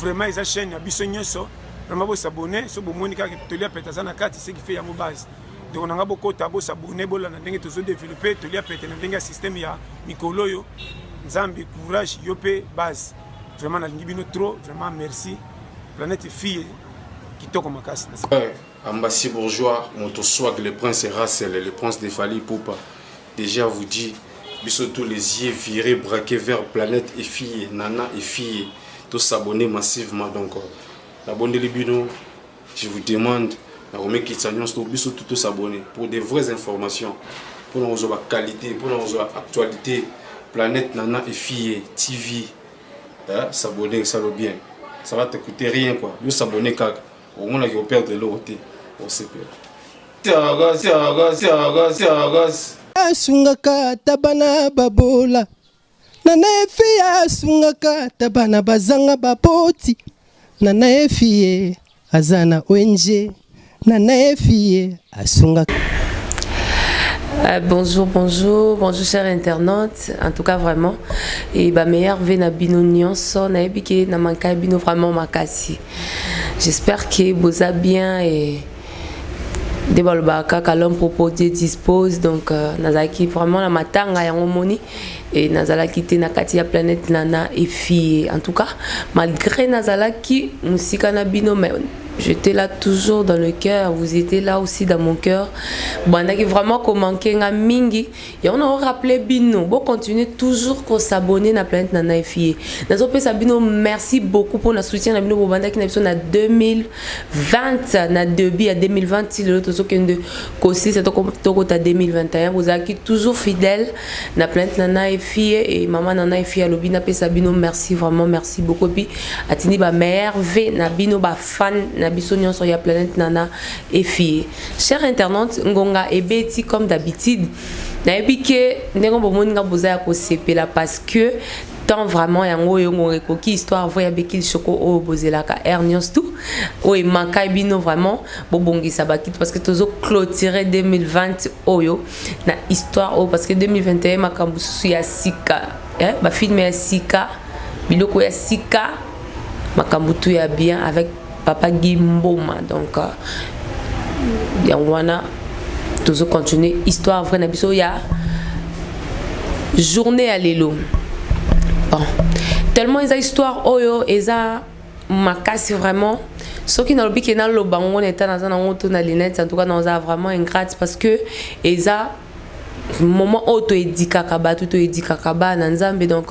vraiment eza chaîne ya biso nyonso vraiment bosabone so bomoni kaka toli ya pete aza na kati ce qui fait yango base ndeko na ngai bokota bosabone bolanda ndenge tozodeveloppe toli ya pete na ndenge ya systeme ya mikolo oyo nzambe courage yo mpe base vraiment nalingi bino trop vraiment merci planète fille kitoko makasi eh, ambassy bourgeois moto swag le prince russel le prince de fali poupa Deja vous dit biso tous les yeux virés braqués vers planète et fille nana et fille to s'abonner massivement donc la bonne bino je vous demande na komekitisa nyonso to biso tout s'abonner pour des vraies informations pour na kozwa qualité pour na kozwa actualité planète nana et fille tv hein? s'abonner ça le bien ça va te coûter rien quoi yo s'abonner kaka omonaki operdre eloko te osepela Tiagas, tiagas, tiagas, tiagas. asungaka ata bana babola na naefi asungaka ata bana bazanga baboti na naefi ye aza na ong na naefi ye asungaka Euh, bonjour, bonjour, bonjour chers internautes. En tout cas vraiment et ba meilleur vie na bino nyonso na ebike na manka bino vraiment makasi. J'espère que boza bien et nde balobaka kaka l'homme propose dieu dispose donc euh, nazalaki vraiment na matanga yango moni e nazalaki te na kati ya planète nana efie en tout cas malgré nazalaki mosika na bino mais j'étais là toujours dans le cœur vous étiez là aussi dans mon cœur bandaki vraiment komanke nga mingi yango na rappeler bino bo continuer toujours ko s'abonner na planète na naifie nazo pesa bino merci beaucoup pour na soutien na bino bobandaki na biso na 2020 na début ya 2020 ti lelo tozokende kosilisa tokota 2021 bozalaki toujours fidèle na planète na naifie et mama na naifie alobi napesa bino merci vraiment merci beaucoup epuis atindi ba meilleur v na bino bafan na biso nyonso ya planète nana efie Chers internautes, ngonga ebeti comme d'habitude. Nayebi ke ndenge bomoni nga boza ya kosepela parce que temps vraiment yango oyo ngonga ekoki histoire vrai ya Bekil Shoko oyo bozelaka Air News tout oyo emankai bino vraiment bobongisa bakiti parce que tozo clôturer 2020 oyo na histoire oyo parce que 2021 makambo susu ya sika eh, bafilme ya sika biloko ya sika makambo tout ya bien avec papa Guy Mboma donc euh, yango wana tozo continuer histoire vraie na biso ya journée ya lelo bon tellement eza histoire oyo eza makasi vraiment soki nalobi ke naloba yango na eta naza nango to na linete en tout cas naoza vraiment ingrate parce que eza moment oyo toyedikaka bato toyedikaka bana nzambe donc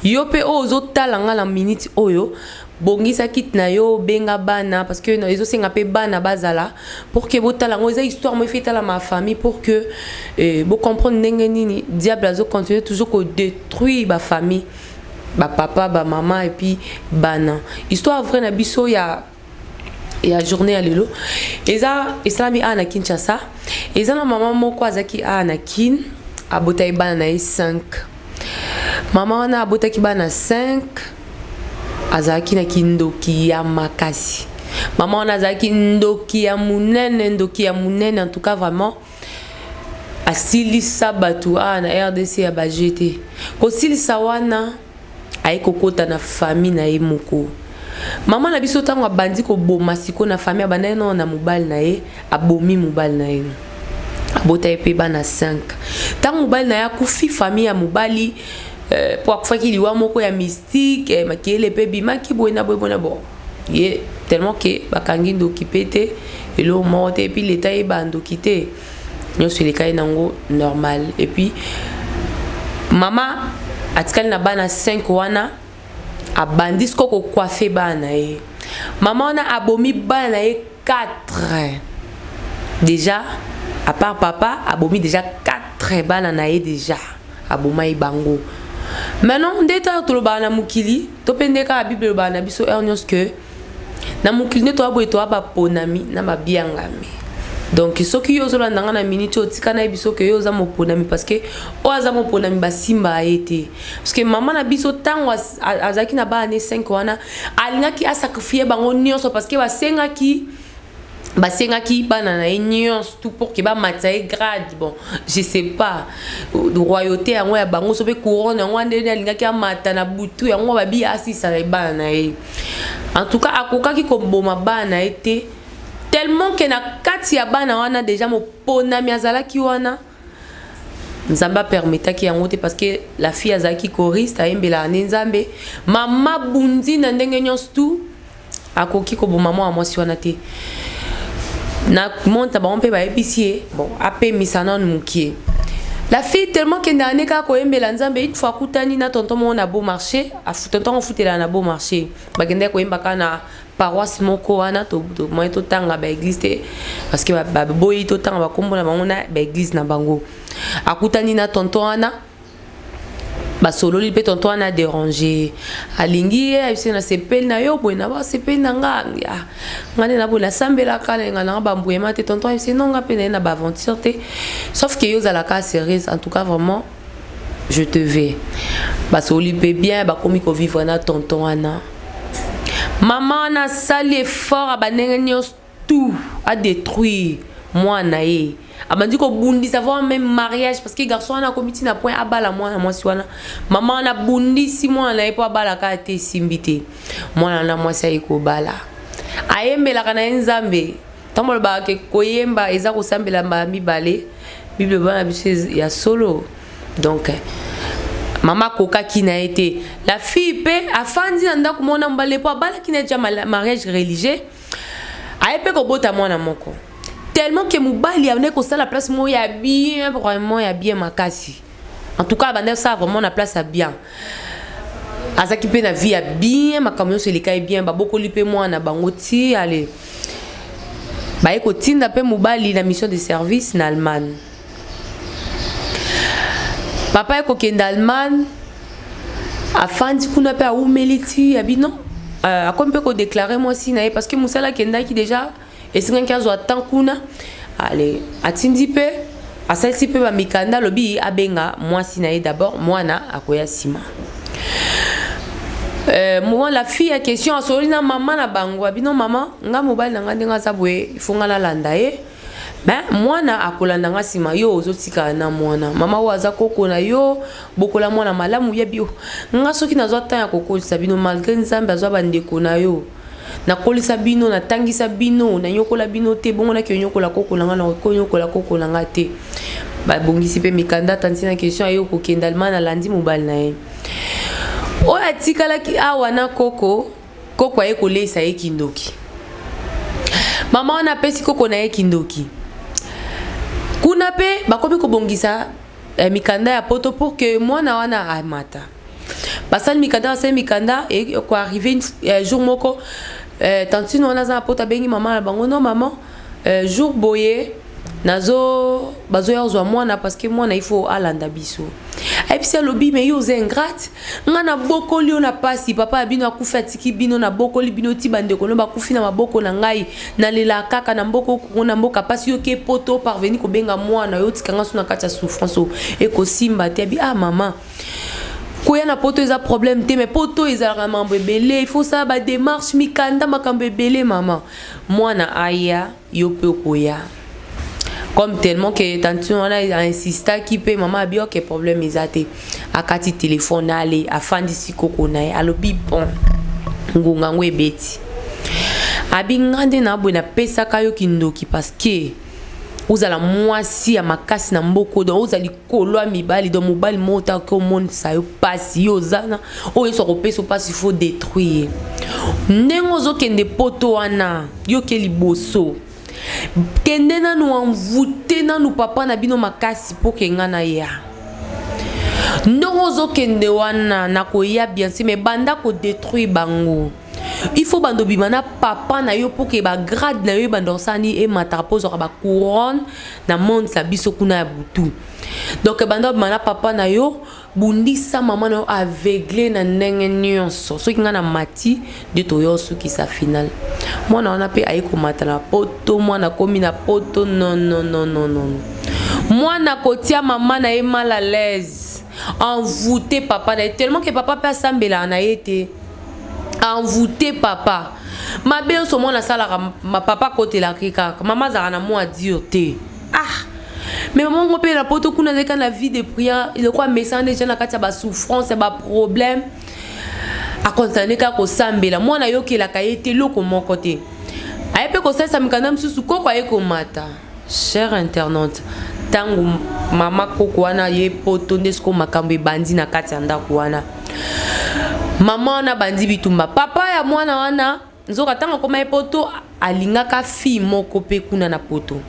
yo mpe oyo ozotala nga na minute oyo bongisa kit na yo benga bana parce que ezo senga pe bana bazala pour que botala ngo eza histoire moi fait la ma famille pour que eh, bo comprendre ndenge nini diable azo continuer toujours ko détruire ba famille ba papa ba maman et puis bana histoire vrai na biso ya ya journée ya lelo eza esalami awa na kinshasa eza na mama moko azalaki awa na kin abotaki bana na ye 5 Mama wana abotaki bana 5 azalaki na kindoki ya makasi. Mama wana azalaki ndoki ya munene, ndoki ya munene en tout cas vraiment asilisa bato awa ah, na rdc ya baje te kosilisa wana aye kokota na famille na ye moko Maman na biso tango abandi koboma siko na famille abandaki nao na mobali na ye abomi mobali na ye abota ye mpe bana 5 ntango mobali na ye akufi famille ya mobali eh, mpo akufaki liwa moko ya mystique eh, makele mpe bimaki boye na boye bona bo ye tellement ke bakangi ndoki mpe te eloko moko te epuis leta yeba ndoki te nyonso eleka ye nango normal epuis mama atikali na bana 5 wana abandi siko kokuafe bana na ye mama wana abomi bana na ye 4 deja apart papa abomi deja 4 bana na ye deja abomai bango maintenant nde ntango tolobaka na mokili to mpe nde kaka bible elobaka na biso heure nyonso ke na mokili nde toya boye toya baponami na babiangami donc soki yo ozolanda ngai na minute oyo tika nayebi soki yo oza moponami parceke oyo aza moponami basimba ye te parceke mama na biso ntango azalaki na bana ne 5 wana alingaki asakrifie bango nyonso parceke basengaki basengaki bana na ye nyonso tout pour ke bamatisa ye grade bon je sais pas royauté yango ya bango so mpe couronne yango wana ndenge alingaki amata na butu yango babi asisa na bana na ye en tout cas akokaki koboma bana na ye te tellement ke na kati ya bana wana deja moponami azalaki wana nzambe apermetaki yango te parce que la fille azalaki choriste ayembelaka nde nzambe mama bundi na ndenge nyonso tout akoki koboma mwana mwasi wana te na monte na bango mpe bayebisi ye bon apemisa nanu mokie la fille tellement kende ane kaka koyembela nzambe une fois akutani na tonton moko na beau marché tonton afutelaka na beau marché bakendaki koyemba kaka na paroisse moko wana tomoye totanga baeglise te parce que baboyi totanga bakombo na bango na baeglise na bango akutani na tonton wana basololi mpe tonto wana aderange alingi ye ayebisi na sepeli na yo boye na basepeli na nga ah, nga nde na boye nasambelaka nalinga nanga bambuyema te tonto ayebisi no nga mpe naye na baaventure te sauf ke yo ozalaka sérieuse en tout cas vraiment je te vais basololi mpe bien bakomi kovivre na tonton wana mama wana asali effort ya bandenge nyonso tout a detruire mwana ye abandi kobundisa voir même mariage parce que garçon wana akomi ti na point abala mwana mwasi wana mama wana abundisi mwana na ye mpo abala kaka te esimbi te mwana wana mwasi aye kobala ayembelaka na ye nzambe ntango alobaka ke koyemba eza kosambela mbala mibale bible eloba na biso ya solo donc mama akokaki na ye te la fille mpe afandi na ndako mona mbale mpo abalaki na ye tya mariage religieux aye mpe kobota mwana moko tellement que mobali abandaki kosala place moko ya bien vraiment ya bien makasi en tout cas abandaki kosala vraiment na place ya bien azalaki mpe na vie ya bien makambo nyonso elekaki bien babokoli mpe mwana bango ti ale baye kotinda mpe mobali na mission de service na allemagne papa ye kokende allemagne afandi kuna mpe awumeli ti ya bino euh, akomi mpe kodeklare mwasi na ye parce que mosala akendaki déjà esengaki azwa temps kuna ale atindi mpe asalisi mpe bamikanda alobi abenga mwasi na ye d'abord mwana akoya nsima Euh, moi la fille ya question asololi na mama na bango abino mama nga mobali na nga ndenge aza boye ifonga nalanda ye Mais mwana akolanda nga sima yo ozo tika na mwana. Mama oyo aza koko na yo, bokola mwana malamu yebi yo. Nga soki nazwa temps ya kokolisa bino malgré Nzambe azwa ba ndeko na yo. Nakolisa bino, natangisa bino, nanyokola bino te, bongo nake onyokola koko na nga na konyokola koko na nga te. Babongisi pe mikanda tanti na question ayo kokenda alma na landi mobali na ye. Oyo atikalaki awa na koko Koko aye koleisa ye kindoki. Mama wana apesi koko na ye kindoki. Kuna pe bakomi kobongisa eh, mikanda ya poto pour que mwana wana amata. Basali mikanda basali mikanda et ko arriver eh, jour moko eh, tantine wana aza na poto abengi mama na bango non maman eh, jour boye nazo bazoya kozwa mwana parce que mwana il faut alanda biso ayebisi alobi me yo oza ingrate ngai nabokoli yo na mpasi papa ya bino akufi atiki bino nabokoli bino ti bandeko no bakufi na maboko na ngai nalela kaka na mboka okongo na mboka mpasi yo ke poto parveni kobenga mwana yo otika ngai so na kati ya souffrance oyo ekosimba te abi ah mama koya na poto eza problème te mais poto ezalaka na mambo ebele il faut osala bademarche mikanda makambo ebele mama mwana aya yo pe okoya comme tellement que tantine wana insistaki mpe mama abi oke problème eza te akati telefone ale afandisi koko na ye alobi bon ngonga yango ebeti abi nga nde na boye napesaka yo kindoki parceke ozala mwasi ya makasi na mboko don ozali kolwa mibali donc mobali moko otaki omonisa yo mpasi yo ozana oyo yesu akopesa mpasi fo détruire ye ndenge ozokende poto wana yo ke liboso kende nanu envoute nanu papa na bino makasi mpo ke ngai naya ndenge ozokende wana nakoya bien se me banda kodétruire bango il faut bando bima na papa na yo mpo ke bagrade na yo ebanda osani emataka mpo ozwaka bacouronne na monde na biso kuna ya butu donc bando bima na papa na yo bundisa mama na yo aveugle na ndenge nyonso soki ngai na mati nde toya osukisa final mwana wana mpe aye komata na poto mwana akomi na poto nononononono mwana kotia mama na ye mal à l'aise envoute papa na ye tellement ke papa mpe asambelaka na ye te envoute papa mabe nyonso mwana asalaka papa akotelaka ye kaka mama azalaka na mwa dure te ah mais mama ngo mpe na poto kuna azalaki na vie de prière eloko amesana deja na kati ya basouffrance ya baproblème akontinue kaka kosambela mwana ayokelaka ye te eloko moko te aye mpe kosalisa mikanda mosusu koko aye komata Chère internaute, tango mama koko wana ye poto nde siko makambo ebandi na kati ya ndako wana mama wana bandi bitumba papa ya mwana wana nzoka ntango akoma ye poto alingaka fille moko mpe kuna na poto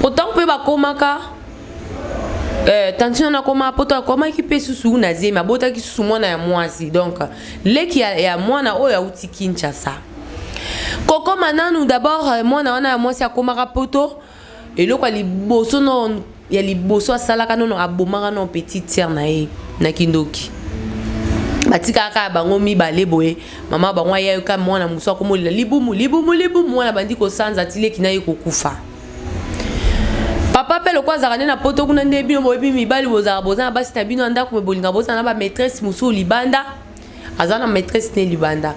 potango mpe bakomaka eh, tantine wana akoma poto akomaki mpe susu na zemi abotaki susu mwana ya mwasi donc leki ya, ya mwana oyo auti kinshasa kokoma nanu d'abord euh, mwana wana ya mwasi akomaka poto eloko ya liboso no ya liboso asalaka nono abomaka no petite sœur na ye na kindoki batikaka kaka bango mibale boye mama bango ayaka mwana mosusu akomolela libumu libumu libumu mwana bandi kosanza tileki na ye kokufa papa mpe lokola azalaka nde na poto kuna nde bino boyebi mibali bozalaka boza na basi na bino ya ndako me bolinga bozala na bamaîtresse mosusu libanda aza na maîtresse ne libanda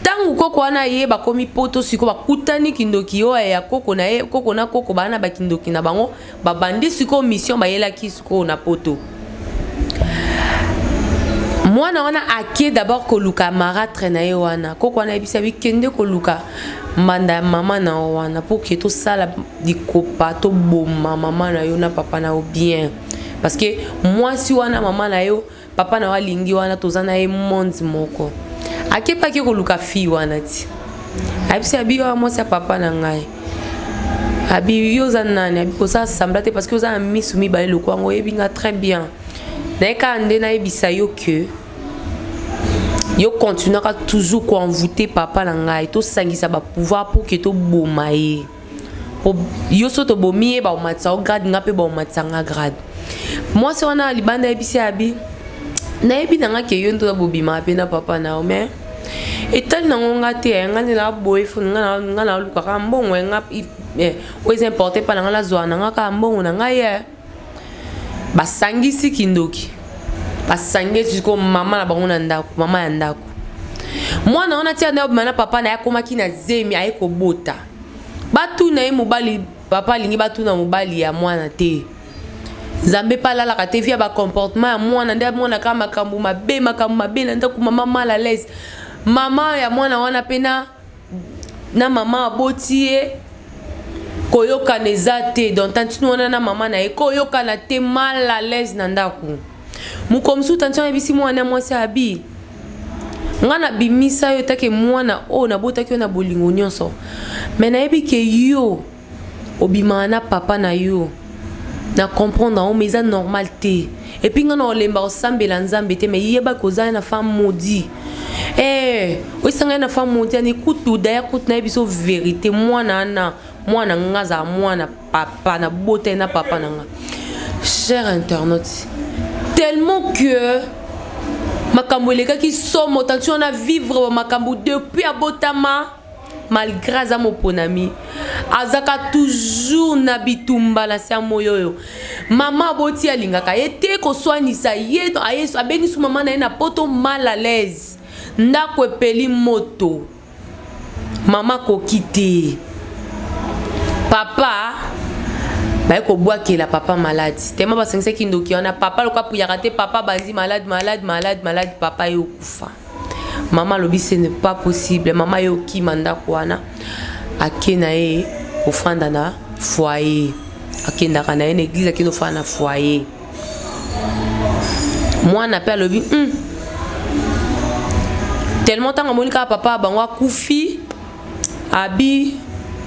ntango koko wana ye bakomi poto sikoyo bakutani kindoki oyo ya koko na ye koko na koko baa na bakindoki na bango babandi sikoyo mission bayelaki sikoyo na poto mwana wana ake d'abord koluka maratre na ye wana koko wana ayebisa bi kende koluka mbanda ya mama na yo wana mpo ke tosala likopa toboma mama na yo na papa na yo bien parce que mwasi wana mama na yo Papa na yo alingi wana toza na ye monde moko. Akepa ake koluka fille wana ti. Ayebisi abi yo mwasi ya papa na ngai. Abi yo oza nani? Abi oza sembla te parce que oza na misu mibale lokola ngo oyebi nga très bien. Naye kaka nde nayebisa yo que yo continuaka toujours koenvoute papa na ngai tosangisa bapouvoir pour ke toboma ye po yo so tobomi ye bakomatisa yo grade nga mpe bakomatisa nga grade mwasi wana ya libanda ayebisi abi nayebi na nga ke yo nde oza bobimaka mpe na papa na yo mais etali nango nga te eh, nga nde naboye fo nga nalukaka mbongo eh, nga eh, oyo eza importe mpa na nga nazwaka na nga kaka mbongo na ngai ye basangisi kindoki basangisi ko mama na bango na ndako mama ya ndako mwana wana tia nayo bima na papa na ye akomaki na zemi aye kobota Batuna ye mobali papa alingi batuna mobali ya mwana te nzambe mpe alalaka te via bacomportement ya mwana nde amonaka makambo mabe makambo mabe na ndako mama mal à l'aise mama ya mwana wana mpe na na mama aboti ye koyokana eza te don tantine wana na mama na ye koyokana te mal à l'aise na ndako mokolo mosusu tanti ayebisi mwana ya mwasi abi ngai nabimisa yo etake mwana oyo nabotaki yo na bolingo nyonso me nayebi ke yo obimaka na papa na yo na comprendre yango me eza normal te epuis ngai na olemba kosambela nzambe te me yeba kozala na femme maudit ee eh, oyisa ngai na femme maudit ani kutu daya kutu nayebi so verité mwana ana mwana ngai azala mwana papa na botali na papa na nga cher internaute tellement que makambo elekaki somo tanti wana vivre bamakambo depuis abotama malgré aza moponami azaka toujours na bitumba na se ya moi oyo mama aboti alingaka ye te koswanisa ye abengisi mama na ye na poto mal à l'aise ndako epeli moto mama koki te papa baye kobwakela papa maladi tema basangisaki ndoki wana papa loka puyaka te papa bandi malade malade malade malade papa ye okufa mama alobi ce n'est pas possible mama ye okima ndako wana ake na ye kofanda na foyer akendaka na ye na eglize akenda ofanda na foyer mwana mpe alobi hmm. tellement ntango amoni kaka papa bango akufi abi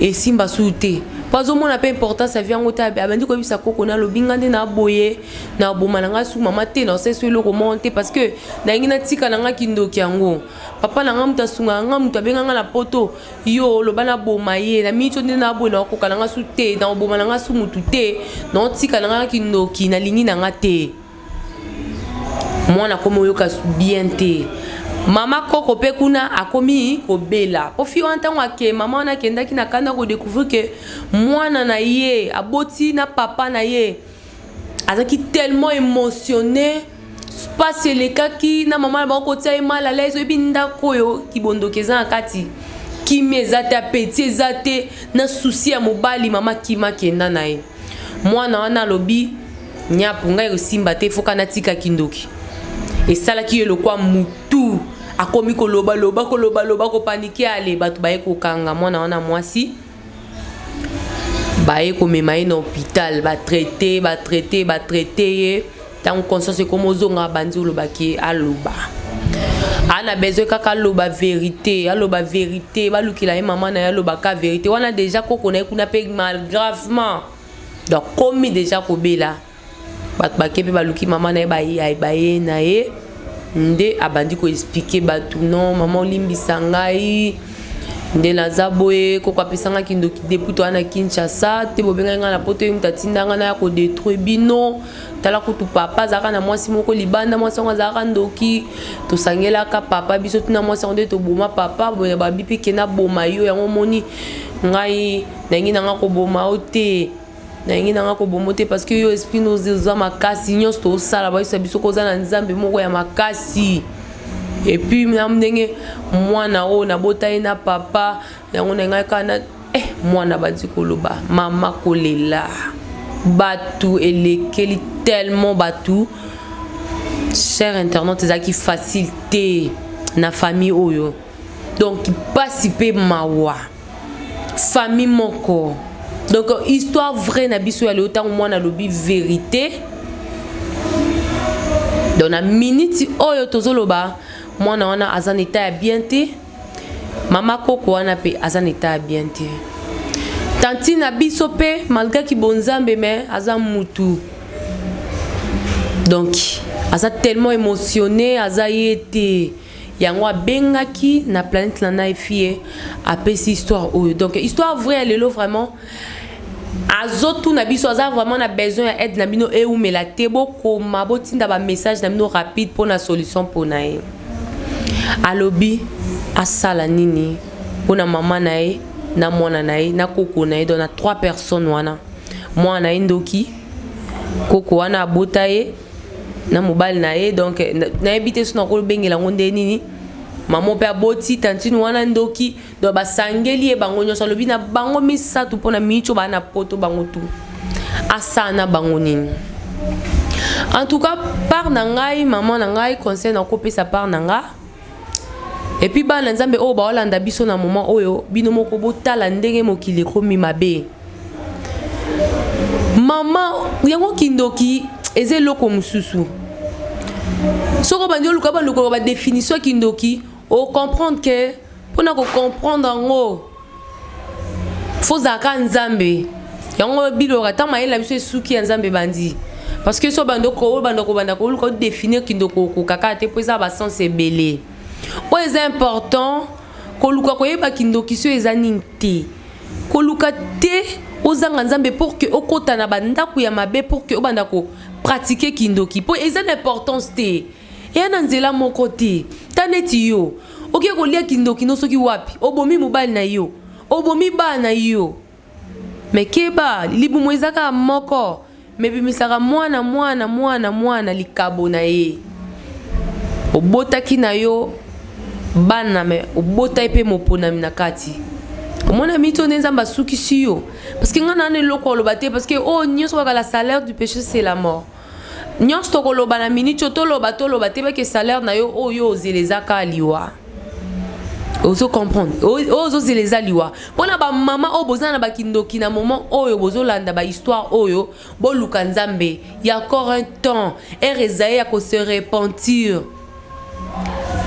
esimba suu te mpo azomona mpe importance ya vi yango te abandi koyebisa koko na alobi nga nde naboye naboma na ngai su mama te naosesu eloko moko te parce que nalingi natika na ngai kindoki yango papa na ngai moto asungaka ngai moto abenga ngai na poto yo oloba naboma ye na miniti oyo nde naboye na okoka na nga su te na oboma na nga su motu te na otika na nga kindoki nalingi na nga te mwana akomi oyoka bien te mama koko mpe kuna akomi kobela mpo fi wana ntango ake mama wana akendaki na kanda kodecouvrir ke mwana na ye aboti na papa na ye azalaki tellement émotionné mpasi elekaki na mama na bango kotia ye mal alaise oyebi ndako oyo kibondoki eza na kati kimia eza te apeti eza te na susi ya mobali mama kima kenda na ye mwana wana alobi nyapu ngai kosimba te foka natika kindoki esalaki ye lokwa mutu akomi kolobaloba kolobaloba kopanike ale bato baye kokanga mwana wana mwasi baye komema ye na hôpital batraite batraite batraite ye ntango conscience ekoma ozonga abandi olobaki aloba ana besoin kaka aloba verité aloba verité balukela ye mama na ye aloba ka verité wana deja koko na ye kuna mpe malgravement donc komi deja kobela bato bake mpe baluki mama na ye baye na ye nde abandi koexplike bato non mama olimbisa ngai nde naza boye koko apesanga kindoki depuis toa na kinshasa te bobengai ngai na poto ye moto atinda ngai naya kodetruire bino tala kutu papa azalaka na mwasi moko libanda mwasi yango azalaka ndoki tosangelaka papa biso tuna mwasi yango nde toboma papa boye babi mpe kena boma yo yango omoni ngai nangi nanga koboma yo te nalingi nanga kobomo te parce que yo esprit no oza makasi nyonso tosala bayisa biso ko oza na nzambe moko ya makasi epuis na ndenge mwana oyo nabota ye na papa yango na ngai kaka na eh, mwana bandi koloba mama kolela bato elekeli tellement bato cher internet ezalaki facile te na famille oyo donc mpasi mpe mawa famille moko donc histoire vraie na biso ya lelo ntango mwana alobi verité donc na miniti oyo tozoloba mwana wana aza na etat ya bien te mama koko wana mpe aza na etat ya bien te tanti na biso mpe malgre kibonzambe me aza mutu donc aza tellement émotionné aza ye te yango abengaki na planète na nai fille apesi histoire oyo donc histoire vraie ya lelo vraiment azotuna biso aza vraiment na besoin ya aide na bino eumela te bokoma botinda bamessage na bino rapide mpo na solution mpo na ye alobi asala nini mpo na mama na ye na mwana na ye na koko na ye don na trois personnes wana mwana na ye ndoki koko wana abota ye na mobali na ye donc nayebi te sona kolobengela yango nde nini mama mpe aboti tantine wana ndoki donc basangeli ye bango nyonso alobi na bango misato mpo na miico baa na poto bango tu asala na bango nini en tout cas part na ngai mama na ngai conseil nakopesa part na nga epuis bana nzambe oyo baolanda biso na moma oyo bino moko botala ndenge mokili ekomi mabe Maman yango kindoki eza eloko mosusu soki obandi oluka bandi koloba badefinition ya kindoki ocomprendre ke mpona kocomprendre yango fozalaka nzambe yango biloka ntango mayele na biso esuki ya nzambe ebandi parce que so banda obanda kobanda koluka odefinir kindoko okokaka te mpo eza basense ebele oyo eza important koluka koyeba kindoki so eza nini te koluka te ozanga nzambe pour que okota na bandako ya mabe pour que obanda ko pratique kindoki mpo eza na importance te eya na nzela moko te ta neti yo oke kolia kindoki no soki wapi obomi mobali na yo obomi bana na yo me keba libumu eza kaka moko Mais bimisaka mwana mwana mwana mwana likabo na ye. Obotaki na yo bana mais obotaki pe moponami na kati. omona mito nde nzambe asukisi yo parceke ngai nana eloko oloba te parceke oyo oh, nyonso kaka la salaire du péché c'est la mort nyonso tokoloba na miniti oyo toloba toloba te bake salaire na yo oyo oh, ozela eza kaka liwa ozo comprendre oyo ozozela eza liwa mpo na bamama oyo boza na bakindoki na moment oyo bozolanda bahistoire oyo boluka nzambe ya encore un temps ere eza ye ya kose repentir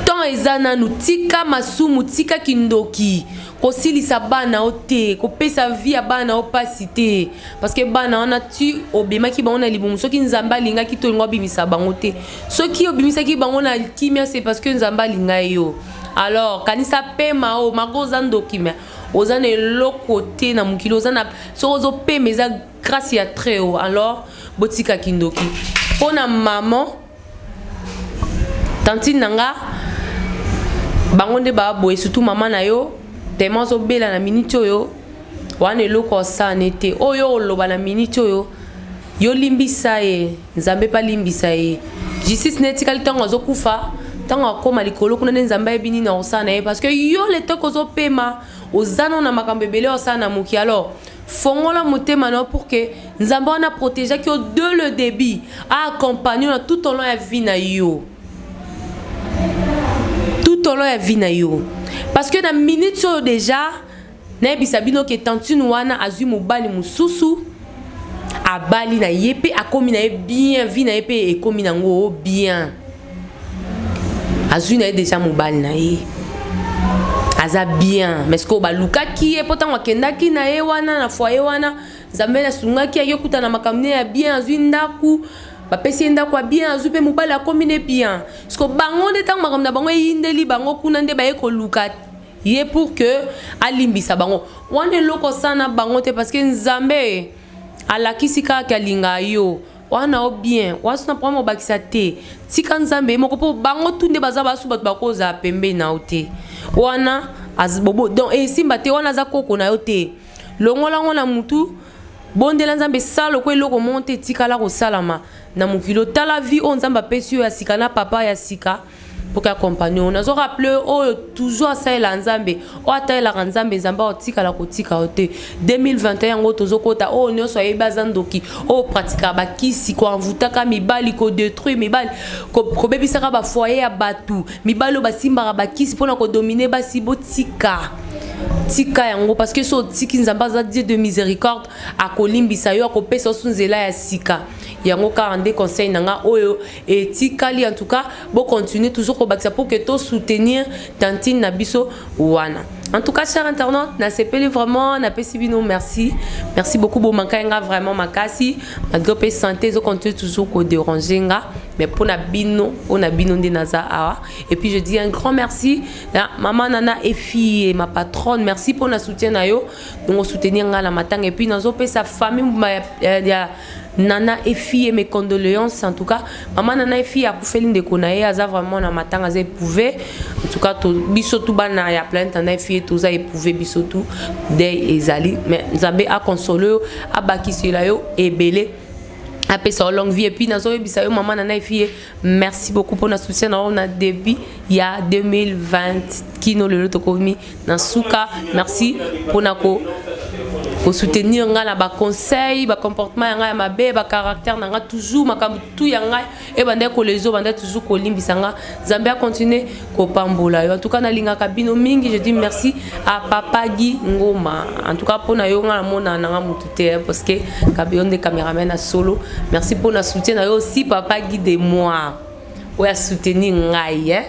temps eza nanu tika masumu tika kindoki kosilisa bana o te kopesa vi ya bana o mpasi te parceke bana wana ti obemaki bango na libumu soki nzambe alingaki tolingo abimisa bango te soki obimisaki bango na kimia se parce que nzambe alinga yo alors kanisa pema o mako oza ndoki me oza na eloko te na mokili oza na soki ozopema eza grâce ya très haut alors botika kindoki mpo na maman tantine na nga bango nde baboye surtout mama na yo tema ozobela na miniti oyo wana eloko osane te oyo oloba na miniti oyo yolimbisa ye Nzambe pe alimbisa ye. Justice na ye etikali ntango azokufa, ntango akoma likolo kuna nde Nzambe ayebi nini akosala na ye parce que yo le temps kozopema oza no na makambo ebele osala na moki alors fongola motema na yo pour que Nzambe wana protegeaki yo de le début aaccompagne yo na tout au long ya vie na yo tout au long ya vie na yo parce que na minute oyo déjà Nayebisa bino ke tantine wana azui mobali mosusu abali na ye mpe akomi na ye bien vie na ye mpe ekomi nango oh, bien azui na ye deja mobali na ye aza bien mais sikoyo balukaki ye mpo ntango akendaki na ye wana na foye wana nzambe asungaki yaki okuta na makambo ne ya bien azwi ndako bapesi ye ndako ya bien azwi mpe mobali akomi ne bien siko bango nde ntango makambo na bango eyindeli bango kuna nde baye koluka ye pour que alimbisa bango wana eloko sana bango te parce que nzambe alakisi kaka ke alinga yo wana o bien wasu na problème obakisa te tika nzambe ye moko mpo bango tu nde baza basu bato bakozala pembeni na yo te wana bobo donc esimba te wana aza koko na yo te longola yango na mutu bondela nzambe sala lokola eloko moko te etikala kosalama na mokili otala vie oyo nzambe apesi yo ya sika na papa ya sika mpoke akompagne oyo nazo rappele oyo toujours asalela nzambe oyo atalelaka nzambe nzambe akotikala kotika yo te 2021 yango tozokota oyo nyonso ayebi aza ndoki oyo pratikaka bakisi koanvutaka mibali kodetruire mibali kobebisaka bafoye ya bato mibali oyo basimbaka bakisi mpona kodomine basi botika tika yango parce que so otiki nzambe aza dieu de miséricorde akolimbisa yo akopesa osu nzela ya sika yango kaka nde conseil na nga oyo et tikali en tout cas bo continuer toujours ko bakisa pour que to soutenir tantine na biso wana en tout cas cher internaute na sepeli vraiment na pesi bino merci merci beaucoup bo manka nga vraiment makasi malgré pe santé zo continuer toujours ko déranger nga mais pour na bino pour na bino nde naza awa et puis je dis un grand merci na maman nana et fille ma patronne merci pour na soutien na yo donc soutenir nga na matanga et puis nazo pesa famille ya Nana Efie mes condoléances en tout cas maman Nana Efie akufeli ndeko na ye aza vraiment na matanga aza éprouvé en tout cas to biso tout bana ya planète Nana Efie toza éprouvé biso tout deuil ezali mais Nzambe a consoler yo abakisela yo ebele apesa yo longue vie epuis nazoyebisa yo mama nana efi ye Merci beaucoup pour notre soutien na on a début ya 2020 kino lelo tokomi na suka. Merci pour na ko ko soutenir nga na ba conseils, ba comportement ya nga ya mabe, ba caractère na nga toujours makambo tout ya nga et bande ko lezo bande toujours ko limbisa nga. Zambia continuer kopambola yo en tout cas nalingaka bino mingi je dis merci à papa Guy Ngoma en tout cas pona yo nga namona nanga mutu te hein, parce que kabeyo nde cameraman à solo merci pona soutien na yo aussi papa Guy de moi oya soutenir ngai hein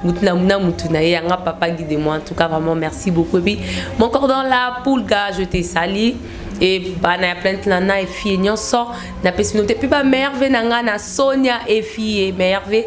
Moutouna Moutouna et Anga Papa Guy de moi. En tout cas, vraiment, merci beaucoup. Et puis, mon cordon là, Poulga, je t'ai sali. Et bah, na plainte là, na et fille, n'y en sort. Na pesinote, puis bah, merveille, na nga, na Sonia et fille, merveille.